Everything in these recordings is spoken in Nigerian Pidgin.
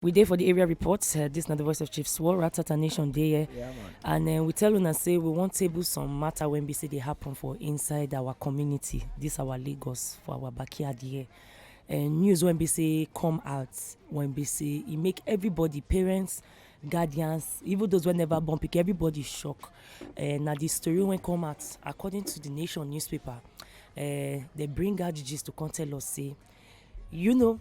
We dey for the area report. Uh, this na the voice of Chief Swore, Ratata Nation dey here. Yeah, and uh, we tell una say we wan table some matter when be say dey happen for inside our community. This our Lagos for our backyard here. Uh, news when be say come out when be say e make everybody parents guardians even those wey never born pikin everybody shock uh, na the story wey come out according to the nation newspaper uh, they bring out the gist to come tell us say you know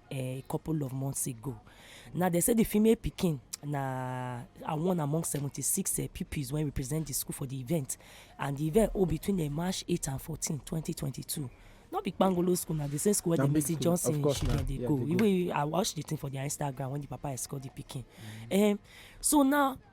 eh, a couple of months ago. Now they say the female pikin na are one among 76 uh, eh, pupils when we present the school for the event and the event hold between uh, march 8 and 14 2022 no be kpangolo school na the same school wey the mercy johnson children dey go even i watch the thing for their instagram when the papa escort the pikin mm. um, so now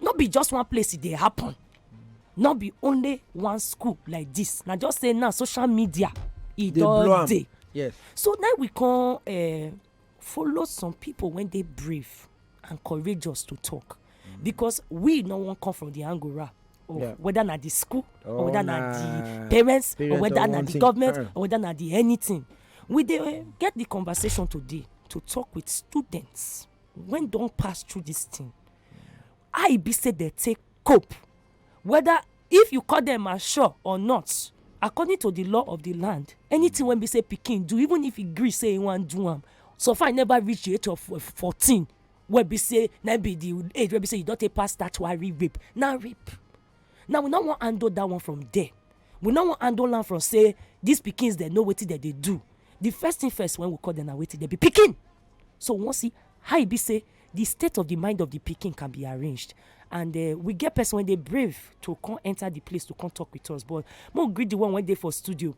no be just one place e dey happen no be only one school like this. na just say now social media e don dey yes so now we come eh, follow some people when they brave and courageous to talk mm. because we no wan come from the angora or yeah. whether na the school oh, or whether na, na the parents, parents or whether na the government uh. or whether na the anything we dey eh, get the conversation today to talk with students when don pass through this thing how e be say dem take cope whether if you call them mature or not according to the law of the land anything wey be say pikin do even if he gree say he wan do am so far he never reach the age of fourteen wey be say na be the age wey be say you don take pass statutory rape na rape now we no wan handle that one from there we no wan handle am from say these pikins dem know wetin dem dey do the first thing first when we call them na wetin dem be pikin so we wan see how e be say the state of the mind of the pikin can be arranged and uh, we get person wey dey brave to come enter the place to come talk with us but mo greet the one wey dey for studio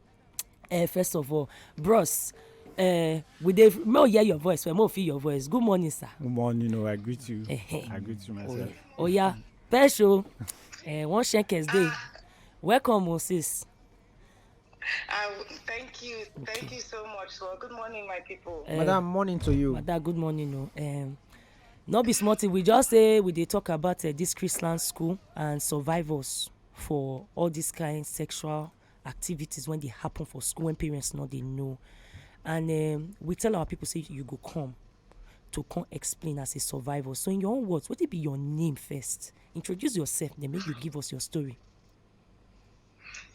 uh, first of all bros uh, we dey may we hear your voice well may we feel your voice good morning sir. good morning o oh, i greet you i greet you myself. oya pesh o uh, one shenkes dey welcome o oh, sis. Uh, thank you. Okay. Thank you so much. Well, good morning, my people. Uh, Madam, morning to you. Madam, good morning. No. Oh. Um, no be small thing. We just say we dey talk about uh, this Christian school and survivors for all this kind sexual activities when they happen for school when parents not they know and um, we tell our people say you go come to come explain as a survivor so in your own words what it be your name first introduce yourself then make you give us your story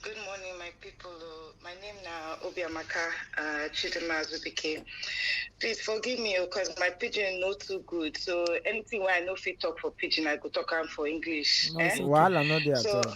good morning my people oh. my name now obiamaka uh, chidima azubike please forgive me because oh, my pidgin not too good so anything where i know fit talk for pidgin i go talk am for english no, eh? wahala no dey at all.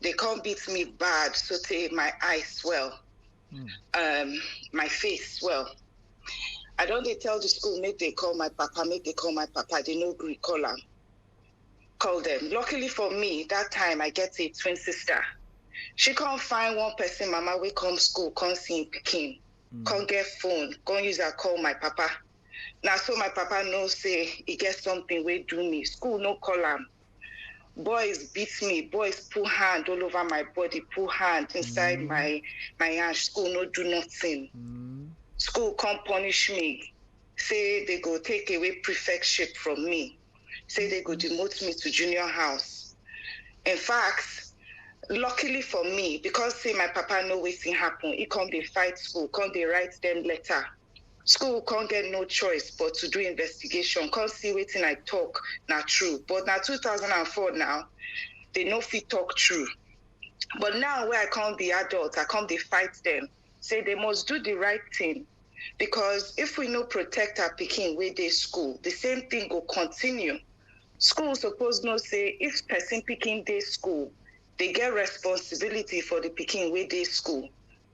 They come beat me bad, so say my eyes swell, mm. um, my face swell. I don't they tell the school, make they call my papa, make they call my papa, they no agree, call them. Call them. Luckily for me, that time I get a twin sister. She can't find one person, mama, we come school, come see Peking, mm. come get phone, come use her call my papa. Now so my papa no say he get something we do me. School no call him. boys beat me boys put hand all over my body put hand inside mm. my my hand school no do nothing mm. school come punish me say they go take away prefectship from me say they go demote me to junior house in fact luckily for me because say my papa know wetin happen he come dey fight school come dey write them letter School come get no choice but to do investigation come see wetin I talk na true but na two thousand and four now they no fit talk true but now wey I come be adult I come dey fight them say they must do the right thing because if we no protect our pikin wey dey school the same thing go continue school suppose know say if person pikin dey school they get responsibility for the pikin wey dey school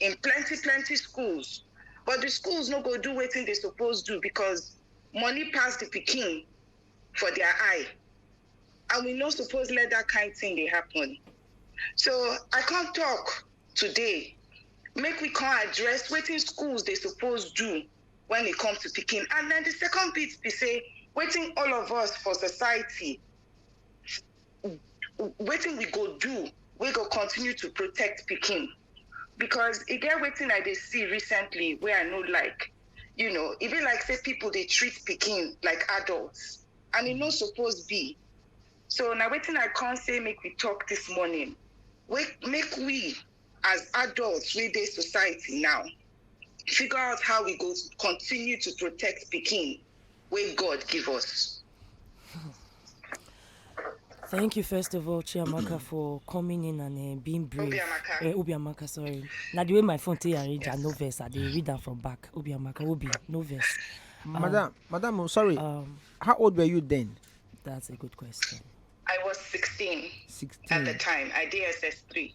in plenty plenty schools but di schools no go do wetin dey suppose do because money pass di pikin for dia eye and we no suppose let dat kain tin dey happen so i come tok today make we come address wetin schools dey suppose do wen e come to pikin and den di second bit be say wetin all of us for society wetin we go do wey go continue to protect pikin because e get wetin i dey see recently wey i no like you know e be like say people dey treat pikin like adults and e no suppose be so na wetin i come say make we talk this morning wey make we as adults wey dey society now figure out how we go continue to protect pikin wey God give us. Thank you, first of all, Chiamaka, for coming in and uh, being brave. Obiamaka. Uh, Obiamaka, sorry. Now, the way my phone take arrange, yes. I no verse. I did read that from back. Obiamaka, Obi, no verse. Um, madam, madam, oh, sorry. Um, How old were you then? That's a good question. I was 16, 16. at the time. I DSS 3.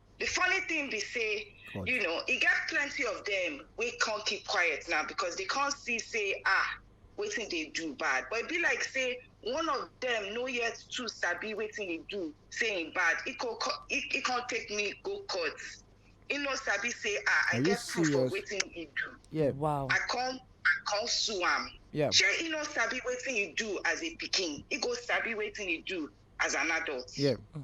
The funny thing be say, God. you know, e get plenty of them we can't keep quiet now because they can't see say ah waiting they do bad. But it be like say one of them no yet too sabi waiting they do saying bad. It can it, it can't take me go court. It no sabi say ah I get proof of waiting he do. Yeah. Wow. I come I come sue am. Yeah. Sure, he no sabi waiting he do as a picking. He go sabi waiting he do as an adult. Yeah. Mm.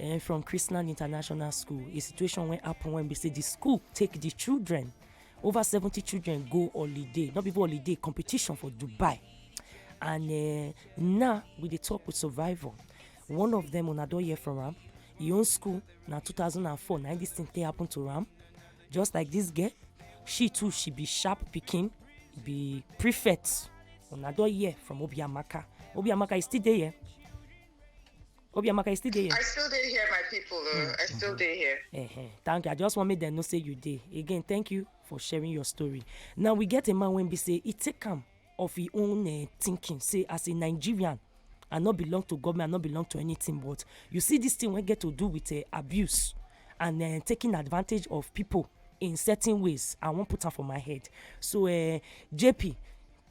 um from chrisland international school a situation wey happen when be say the school take the children over seventy children go holiday not be even holiday competition for dubai and uh, now we dey talk with survivor one of them una don hear from am e own school na two thousand and four na this thing take happen to am just like this girl she too she be sharp pikin be prefect una don hear from obiamaka obiamaka you still dey here. Obiamaka, you still dey here? I still dey here, my people. Uh, I still dey here. Uh-huh. Thank you. I just want me them no say you dey. Again, thank you for sharing your story. Now we get a man when we say it take him of his own uh, thinking. Say as a Nigerian, I not belong to government, I not belong to anything. But you see this thing we get to do with uh, abuse and uh, taking advantage of people in certain ways. I won't put her for my head. So uh, JP,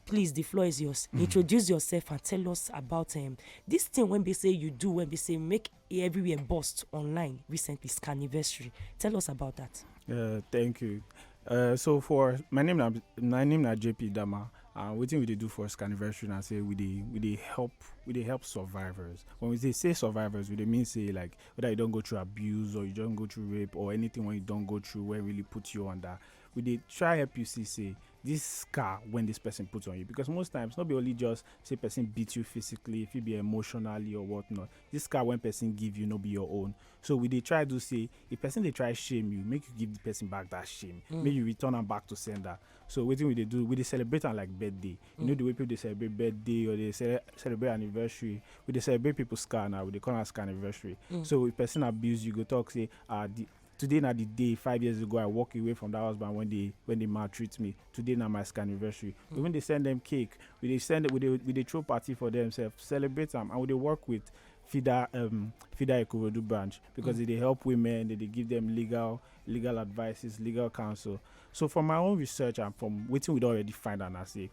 Please the floor is yours. Mm. Introduce yourself and tell us about um, this thing when they say you do when they say make everywhere bust online recently anniversary. Tell us about that. Uh, thank you. Uh, so for my name na my name na JP Dama. Uh, wetin we dey do for anniversary na say we dey we dey help we dey help survivors. When we say say survivors, we dey mean say like whether you don go through abuse or you don go through rape or anything when you don go through wey really put you under we dey try help you see say this scar when this person put on you because most times not be only just say person beat you physically if it be emotionally or whatnot this scar when person give you no be your own so we dey try do say if person dey try shame you make you give the person back that shame mm. make you return am back to sender so wetin we dey do we dey celebrate am like birthday mm. you know mm. the way people dey celebrate birthday or dey ce celebrate anniversary we dey celebrate people scar now we dey call am scar anniversary mm. so if person abuse you go talk say ah the Today na the day five years ago I walk away from that husband when they when they maltreat me. Today na my anniversary. Mm. Even they send them cake, we they send we they we they throw party for themselves, celebrate them, and we they work with FIDA um, FIDA Ikorodu branch because mm. they help women, they, they give them legal legal advices, legal counsel. So from my own research and from waiting we already find and I say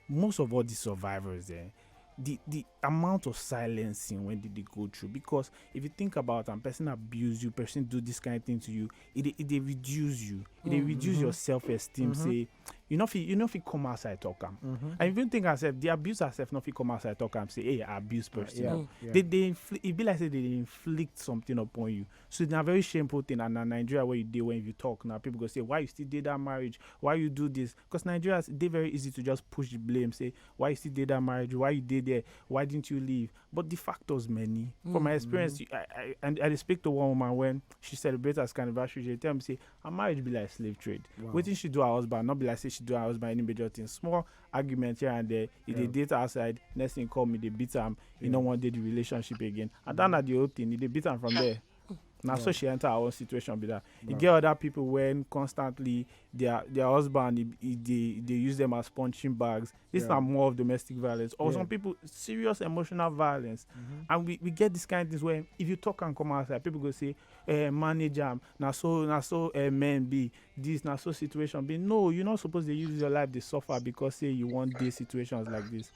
most of all the survivors there, eh, the the amount of silencing when did they go through because if you think about and person abuse you person do this kind of thing to you it it they reduce you it they mm-hmm. reduce your self-esteem mm-hmm. say you know if you, you know if you come outside talk them mm-hmm. and even think yourself the abuse yourself not if you come outside talk them say hey I abuse person yeah, yeah. they they infl- it be like say they inflict something upon you so it's a very shameful thing and in Nigeria where you do when you talk now people go say why you still did that marriage why you do this Cos Nigerians e dey very easy to just push di blame say why you still dey dat marriage why you dey there why didn't you leave but di factors many for my mm-hmm. experience i i and i dey speak to one woman when she celebrate her anniversary she tell me say her marriage be like slave trade wetin she do her husband not be like say she do her husband any major thing small argument here and there e dey date outside next thing call me dey beat am e no wan dey the relationship again and dat na the whole thing e dey beat am from there. na so she enter her own situation be that e get other people when constantly their their husband e, e dey dey use them as punching bags this yeah. na more of domestic violence or yeah. some people serious emotional violence mm-hmm. and we we get this kind of things where if you talk and come outside people go say eh manage am na so na so eh, men be this na so situation be no you no suppose dey use your life dey suffer because say you wan dey situations like this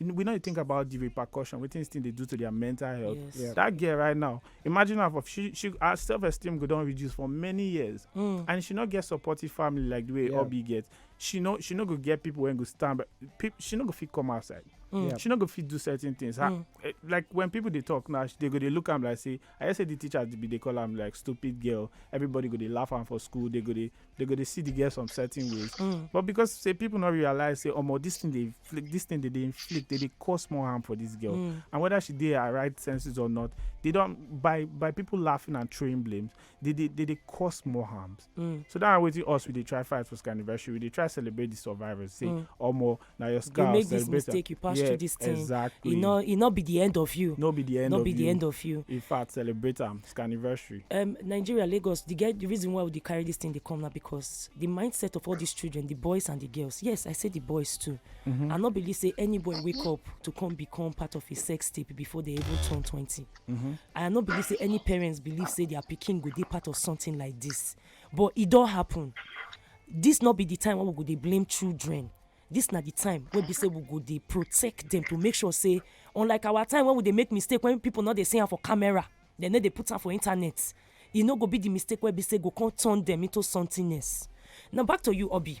we know you think about the repercussion wetin still dey do to their mental health yes. yeah. that girl right now imagine her for she she her self esteem go don reduce for many years mm. and she no get supportive family like the way yeah. obi get she no she no go get people wey go stand but people she no go fit come outside mm. yeah. she no go fit do certain things her, mm. Eh, like when people dey talk now they go dey look am like say i hear say the teachers be dey call am like stupid girl everybody go dey laugh am for school they go dey they go dey see the girl some certain ways Mm. but because say people no realize say omo this thing dey inflict this thing dey dey inflict dey dey cause more harm for this girl Mm. and whether she dey her right senses or not they don by by people laughing and throwing blames they dey they dey cause more harms Mm. so that na wetin us we dey try fight for scanniversary we dey try celebrate the survivors say Mm. omo na your scar you make this mistake you pass yeah, through this thing exactly e no e no be the end of you no be the end no of be you. the end of you in fact celebrate am it's anniversary um nigeria lagos the get the reason why we dey carry this thing dey come na because the mindset of all these children the boys and the girls yes i say the boys too mm -hmm. i no believe say any boy wake up to come become part of a sex tape before they even turn twenty mm -hmm. i no believe say any parents believe say their pikin go dey part of something like this But e don happen. Dis no be di time wey we go dey blame children. Dis na di time wey be say we go dey protect dem to make sure say unlike our time wey we dey make mistake wey pipu no dey see am for camera, dem no dey put am for internet, e no go be di mistake wey be say go come turn dem into something else. Now, back to you Oby.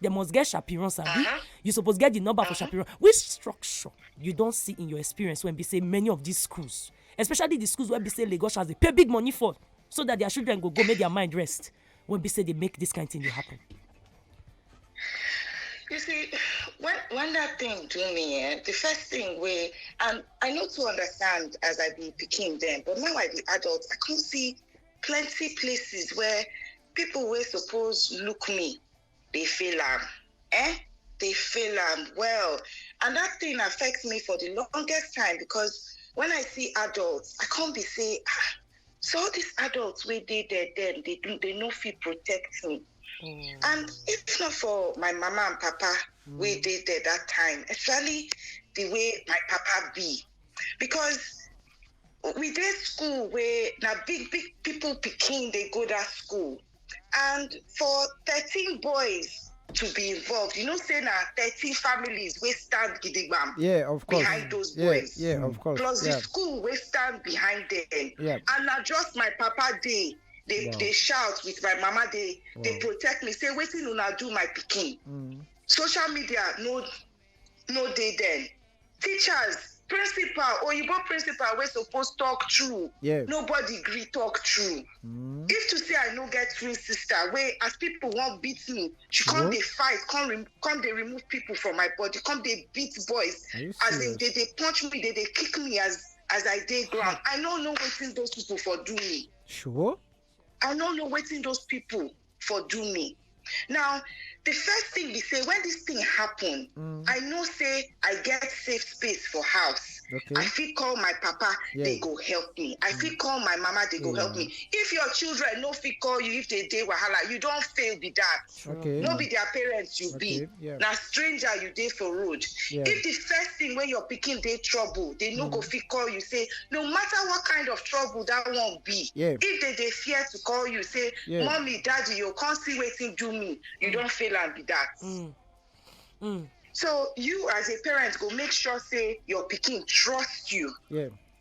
They must get Shapiron Sabi. Uh -huh. You suppose get the number uh -huh. for uh-huh. Shapiron. Which structure you don't see in your experience when we say many of these schools, especially the schools where we say Lagos has they pay big money for so that their children go go make their mind rest when we say they make this kind of thing happen. You see, when when that thing do me, eh, the first thing we and I know to understand as I be picking them, but now I be adult, I can see plenty places where people were supposed look me dey fail am eh dey fail am well and that thing affect me for the longest time because when i see adults i come be say ah so all these adults wey dey there dem dey do they no fit protect me Mm. and if not for my mama and papa wey dey there that time especially the way my papa be because we dey school wey na big big people pikin dey go that school and for thirteen boys to be involved you know say na thirteen families wey stand gidigbam yeah of course behind those yeah, boys yeah of course plus yeah. the school wey stand behind them yeah. and na just my papa dey dey wow. dey shout with my mama dey wow. dey protect me say wetin una do my pikin mm. social media no no dey dem teachers principal oyibo principal wey suppose talk true Yeah. nobody gree talk true Mm. if to say i no get twin sister wey as people wan beat me she come What? dey fight come rem come dey remove people from my body come dey beat boys Are you as in serious? dey dey punch me dey dey kick me as as i dey ground i no know wetin those people for do me Sure. I no know wetin those people for do me. Now, the first thing be say when this thing happen, mm. I know say I get safe space for house. Okay. I fit call my papa, yeah. they go help me. I mm. fit call my mama, they go yeah. help me. If your children no fit call you, if they dey wahala, you don't fail be that. True. Okay. no be their parents you be Okay, yeah. na stranger you dey for road Yeah. if the first thing wey your pikin dey trouble they no go fit call you say no matter what kind of trouble that one be Yeah. if they dey fear to call you say Yeah. mommy daddy you come see wetin do me you don fail am be that Mm. Mm. so you as a parent go make sure say your pikin trust you Yeah.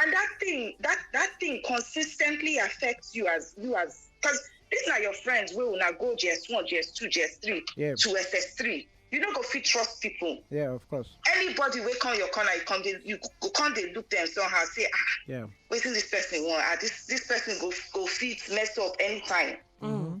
and that thing that that thing consistently affects you as you as because these are your friends wey una go js one js two js three yeah. to ss three you no go fit trust people. yeah of course. anybody wey come your corner you come dey you go come dey look them somehow say ah yeah. wetin this person wan ah this this person go go fit mess up anytime. Mm -hmm.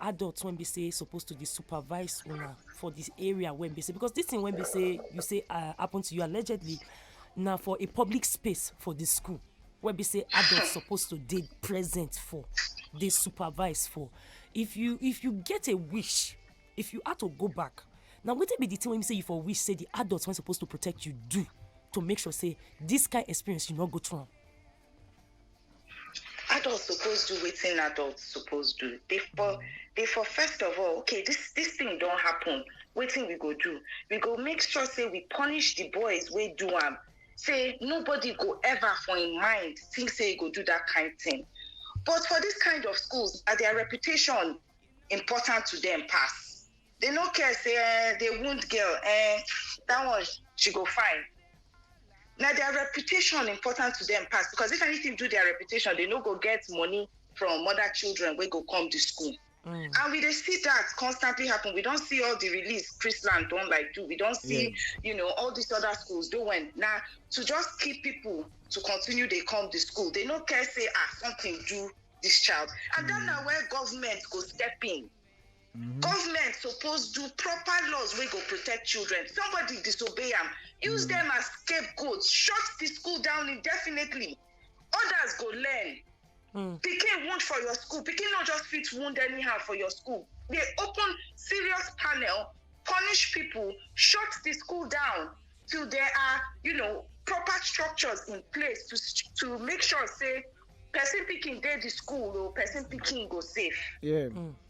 adult wey be say suppose to dey supervise una for this area wey be say because this thing wey be say you say uh, happen to you allegedly na for a public space for the school wey be say adult suppose to dey present for dey supervise for if you if you get a wish if you had to go back na wetin be the thing wey be say you for wish say the adult wey suppose to protect you do to make sure say this kind experience you no go through am. adult suppose do wetin adult suppose do dey for dey for first of all okay this this thing don happen wetin we go do we go make sure say we punish the boys wey do am say nobody go ever for im mind think say e go do that kind thing but for this kind of schools na their reputation important to them pass They no care say eh, they wound girl. Eh, that one she go fine. Now their reputation important to them pass because if anything do their reputation, they no go get money from other children wey go come to school. Mm. And we dey see that constantly happen. We don see all the release Chrisland don like do. We don see, yeah. you know, all these other schools doing. Now to just keep people to continue dey come the school, they no care say ah something do this child. And mm. then na where government go step in. Mm-hmm. Government suppose do proper laws wey go protect children. Somebody disobey am, use mm. them as scapegoats, shut the school down indefinitely. Others go learn. Mm. Pikin wound for your school. Pikin no just fit wound anyhow for your school. They open serious panel, punish people, shut the school down till there are, you know, proper structures in place to to make sure say person picking dey the school or person picking go safe. Yeah. Mm.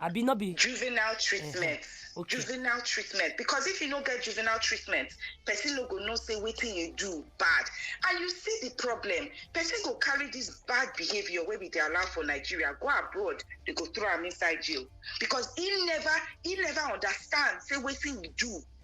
abi no be juvenile treatment okay. juvenile treatment because if you no get juvenile treatment person no go know say wetin you do bad and you see the problem person go carry this bad behaviour wey we dey allow for nigeria go abroad they go throw am inside jail because he never he never understand say wetin he do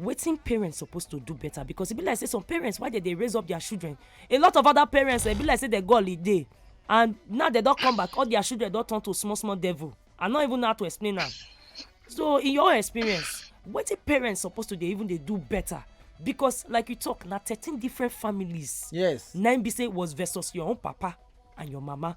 wetin parents suppose to do better because e be like say some parents why they dey raise up their children a lot of other parents e be like say they go holiday and now they don come back all their children don turn to small small devil i no even know how to explain am so in your experience wetin parents suppose to dey even dey do better because like you talk na thirteen different families yes na im be say was versus your own papa and your mama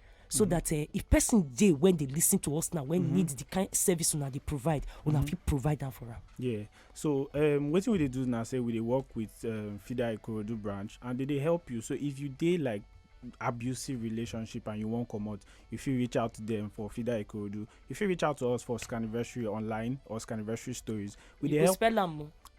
so that uh, if person dey when they listen to us now when mm -hmm. need the kind service una dey provide una mm -hmm. fit provide am for am. yeah so um, wetin we dey do now say we dey work with um, fida ikorodu branch and they dey help you so if you dey like abusive relationship and you wan comot you fit reach out to them for fida ikorodu you fit reach out to us for scanniversary online or scanniversary stories we dey help spell am o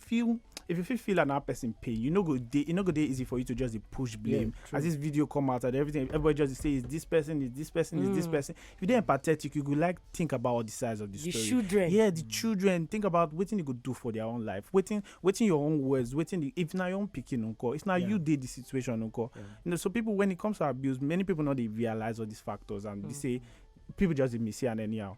feel if you feel feel another person pain, you know go dey you know go dey easy for you to just dey push blame. Yeah, As this video come out and everything, everybody just dey say is this person, is this person, is this Mm. person. If you dey empathetic, you go like think about all the sides of the, The story. children. Yeah, the children think about wetin you go do for their own life. Wetin wetin your own words, wetin the, if na your own pikin unko, if na Yeah. you dey the situation unko. Yeah. You know, so people when it comes to abuse, many people no dey realize all these factors and they Mm. say people just dey miss it and anyhow.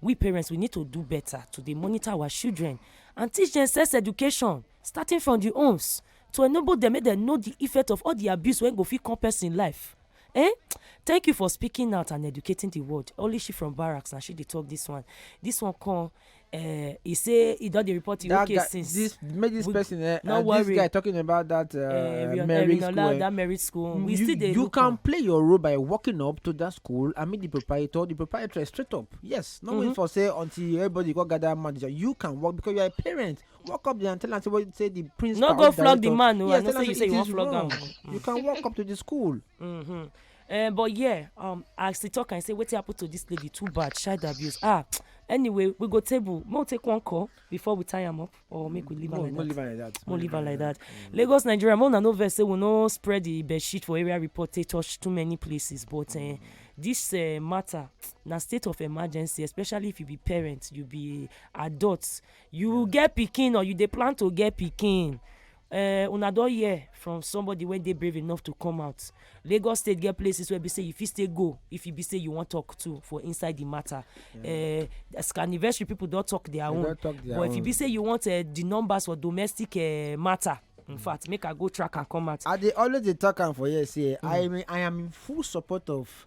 We parents we need to do better to dey monitor our children and teach dem sex education starting from the homes to enable dem make dem know the effect of all the abuse wey go fit come person life. Eh? Thank you for speaking out and educating the world. Only she from barracks na she dey talk this one. This one come uh, he say he don dey report him that case guy, since. This make this we, person uh, no uh, worry. this guy talking about that uh, uh, marriage school. That marriage school. We you, still dey you can play your role by working up to that cool and meet the proprietor the proprietor straight up yes no mm -hmm. wait mm-hmm. for say until everybody go gather manager you can work because you are a parent walk up there and tell am say say the principal no go flog the man o oh, yes, i know say you say you wan flog am you can walk up to the school. Mm -hmm. Uh, but yeah um, i still talk and say wetin happen to this lady too bad child abuse ah anyway we go table make we take one call before we tie am up. or make we leave am like that more leave am like that mm. lagos nigeria more na no vex say we no spread the bed sheet for area report take touch too many places but eh, this eh, matter na state of emergency especially if you be parent you be adult you get pikin or you dey plan to get pikin Eh, una don hear from somebody wey dey brave enough to come out lagos state get places wey be say you fit still go if you be say you wan talk to for inside the matter eh, as anniversary people don talk their own but if you be say you want eh, the numbers for domestic eh, matter in mm. fact make i go track and come out. i dey always dey talk am for here say mm. i i am in full support of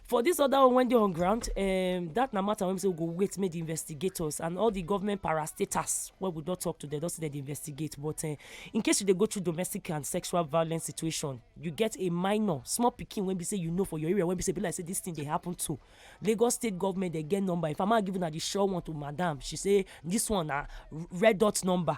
for this other one wey dey on ground um, that na matter wey be say we go wait make the investigators and all the government parastatals wey we don talk to them don say dem dey investigate but uh, in case you dey go through domestic and sexual violence situation you get a minor small pikin wey be say you know for your area wey be say be like say this thing dey happen to lagos state government dey get number if i ma give una the sure one to madam she say this one na red dot number